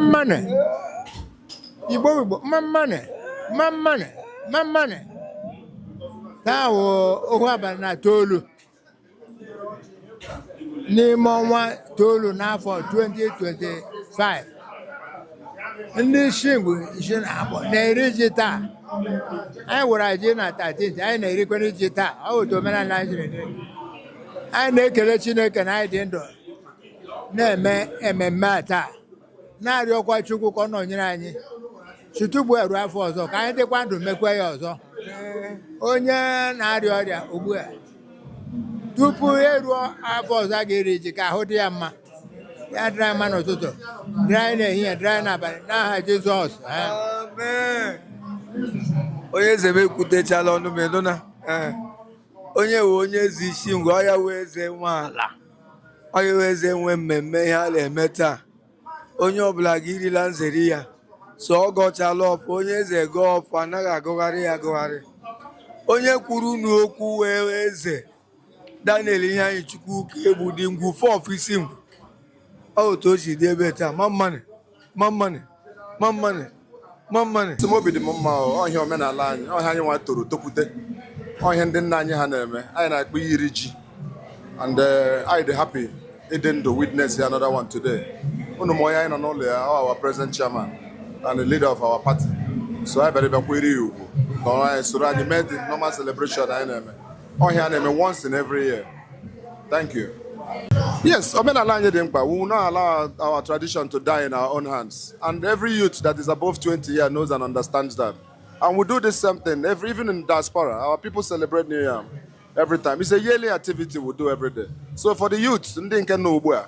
mmanụ igbo Igbo mma mma nụ mma mma nụ mma mma nụ taa wụ ohu abalị na itoolu n'ime ọnwa itoolu n'afọ 2025 ndị Isingwu isi na abụọ na-eri ji taa anyị wara ji na 13 anyị na-erikwa ji taa ọ wụ otu omenala anyị jiri dị anyị na-ekele chineke na anyị dị ndụ na-eme ememme a taa na-arịọkwa Chukwu ka ọ nọnyere anyị site ugbu a ruo afọ ọzọ ka anyị dịkwa ndụ mekwa ya ọzọ onye na-arịa ọrịa ugbu a tupu eruo afọ ọzọ a ga-eri ji ka ahụ dị ya mma ya dịrị anyị mma n'ụtụtụ dịrị anyị n'ehihie dịrị anyị n'abalị n'aha Jizọs ee. Amen. onye eze m ekwutechala ọnụ m ịnụ na ee. onye wụ onye eze Isingwu ọ ya wụ eze nwe ala Ọ ya wụ eze nwe mmemme ihe a na-eme taa. Onye ọbụla ga-eri la nzeri ya. So ọ gọchala ọfọ, onye eze gọọ ọfọ anaghị agọgharị ya agọgharị. Onye kwuru unu okwu wụ Eze Daniel Iheanyichukwu Ukaegbu the Ngwu four of Isingwu. Ọ otu o si dị ebe a taa mma mma nụ. mma mma nụ mma mma nụ mma mma nụ sị m obi dị m mma o, ọ ihe omenala anyị ọ ihe anyị nwa toro tokwute ọ ihe ndị nna anyị ha na-eme anyị na-akpọ ya iri ji and eh, anyị dị happy ịdị ndụ witness ya another one today unu ma onye anyị nọ n'ụlọ ya ọ our present chairman and the leader of our party so anyị bịara bịa kwanyere ya ugwu nọrọ anyị soro anyị mee the normal celebration anyị na-eme ọhịa na-eme once in every year thank you yes omenala anyị dị mkpa we will not allow our tradition to die in our own hands and every youth that is above 20 years knows and understands that and we do this same thing every even in diaspora our people celebrate new yam every time it's a yearly activity we do every day so for the youth ndị nke nọ ugbu a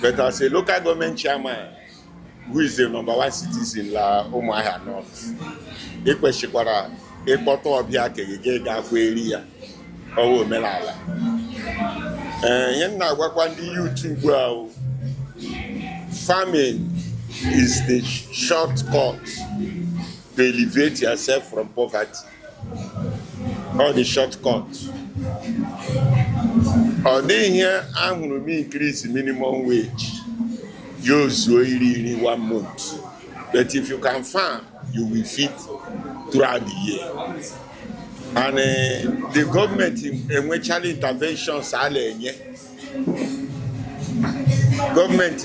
But as a local government chairman who is the number one citizen la Umuahia North, ị kwesịkwara ịkpọta ọbịa ke gị gị ga-akwa eri ya ọ wụ omenala ee ihe m na-agwakwa ndị youth ugbu a o, farming is the shortcut to elevate yourself from poverty. ọ the shortcut ọ dịghị ihe ahụrụ m increase minimum wage ya ezuo iri nri one month but if you can farm you will feed throughout the year and uh, the government enwechala interventions a na-enye government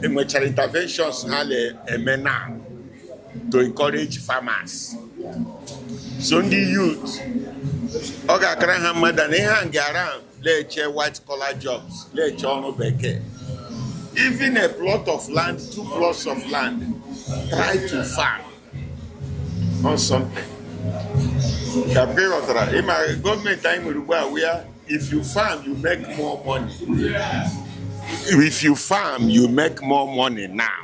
enwechala interventions ha na-eme now to encourage farmers so ndị youth ọ ga-akara ha mma than ị hang around na-eche white collar jobs na-eche ọrụ bekee even a plot of land two plots of land try to farm on something ka mgbe ị ghọtara ịma government anyị nwere ugbu a where if you farm you make more money if you farm you make more money now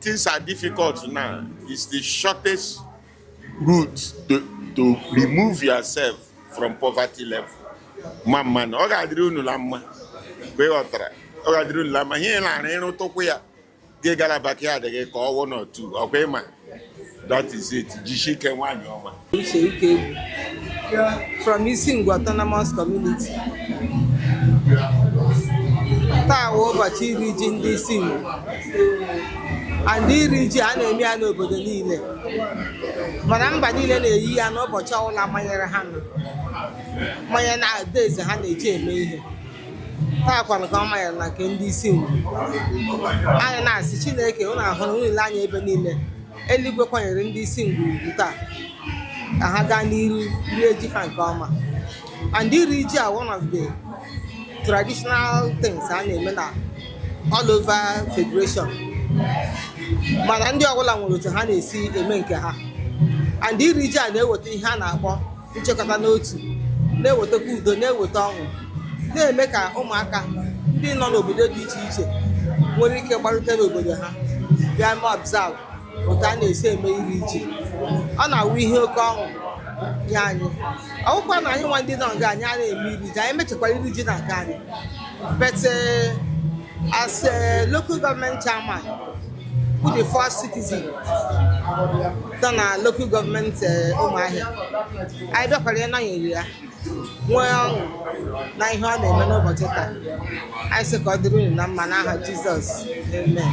Things are difficult now. It's the shortest route to, to remove yourself from poverty level. Ma mma na ọ ga-adịrị unu la mma mgbe ghọtara ọ ga-adịrị unu la mma ihe na-arụ ịrụtụkwu ya gị gala backyard gị kọọ one or two ọkwa ịma That is it. Jishike nwanyị ọma. Uche Ikegwu from Isingwu autonomous community. Taa wụ ụbọchị iri ji ndị Isingwu. And iri ji a na-eme ya n'obodo niile. Mana mba niile na-eyi ya n'ụbọchị ọbụla manyere ha nọ manye na days ha na-eji eme ihe. taa kwanụ ka ọ manyere na nke ndị Isingwu. Anyị na-asị Chineke unu ahụrụ unu ile anya ebe niile. Eluigwe kwanyere ndị Isingwu ugwu taa ka ha gaa n'iru rie ji ha nke ọma and iri ji a one of the traditional things a na-eme na all over federation mana ndị ọbụla nwere otu ha na-esi eme nke ha and iri ji a na-eweta ihe a na-akpọ nchekọta n'otu na-ewetakwa udo na-eweta ọṅụ na-eme ka ụmụaka ndị nọ n'obodo dị iche iche nwere ike gbarute n'obodo ha bịa mee observe otu a na-esi eme iri ji ọ na-awụ ihe oke ọṅụ nye anyị ọ wụkwa na anyị nwa ndị nọ nga anyị a na-eme iri ji anyị mechekwara iri ji na nke anyị but uh, as a local government chairman wụ the first citizen nọ na lokal gọọmenti Ụmụahịa anyị bịakwara ịnọnyere ya nwee ọṅụ na ihe ọ na-eme n'ụbọchị taa anyị sị ka ọ dịrị unu na mma n'aha jizọs amen